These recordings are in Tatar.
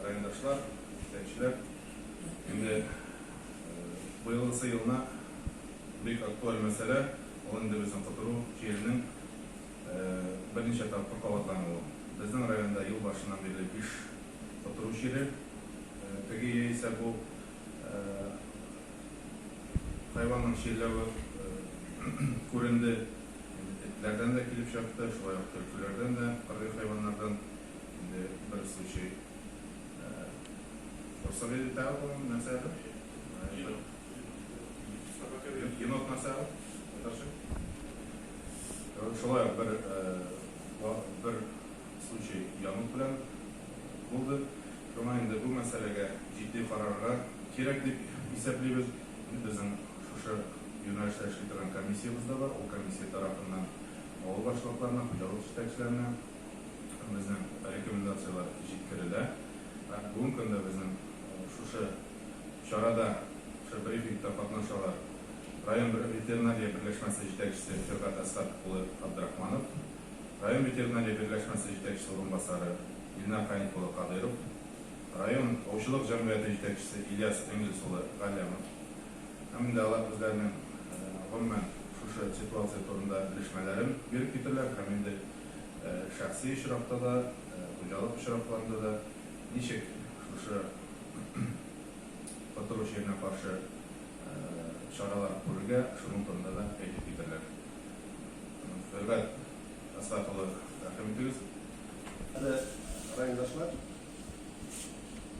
Райондашлар, эшләүчеләр, инде быелгысы елына бик актуаль мәсьәлә, ул инде безнең котыру җиренең берничә тапкыр кабатлануы. Безнең районда ел башыннан бирле биш котыру чире, теге яисә бу хайванның чирләве күренде. Инде этләрдән дә килеп чыкты, шулай ук төлкеләрдән дә, кыргый хайваннардан. Инде бер случай просто вылетал он на саду. Енот. Собака вылетела. Енот на саду. Наташа. Шулай ук бер бер случай Янук белән булды. Шуңа инде бу мәсьәләгә җитди карарга кирәк дип исәплибез. Безнең шушы юнәлештә эшли торган комиссиябез дә бар. Ул комиссия тарафыннан авыл башлыкларына, хуҗалык җитәкчеләренә, безнең рекомендацияләр җиткерелә. Бүгенге көндә безнең шушы чарада, шушы брифингта катнашалар район ветеринария берләшмәсе җитәкчесе Фергат Әсхәт улы Абдрахманов, район ветеринария берләшмәсе җитәкчесе урынбасары Илнар Ханик улы Кадыйров, район аучылык җәмгыяте җитәкчесе Ильяс Энгельс улы Галләмов һәм инде алар үзләренең гомумән шушы ситуация турында белешмәләрен биреп киттеләр һәм инде Шәхси очракта да, хуҗалык очракларында да ничек шушы котыру чиренә каршы чаралар күрергә, шуның турында да әйтеп китәрләр. Хөрмәт Әсгать улы, рәхим итегез. Хөрмәтле райондашлар,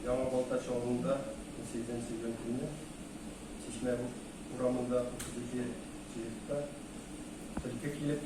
Яңа Балтач авылында унсигезенче сәүбән көнне Чишмә урамында 32 җыентыкта төлке килеп,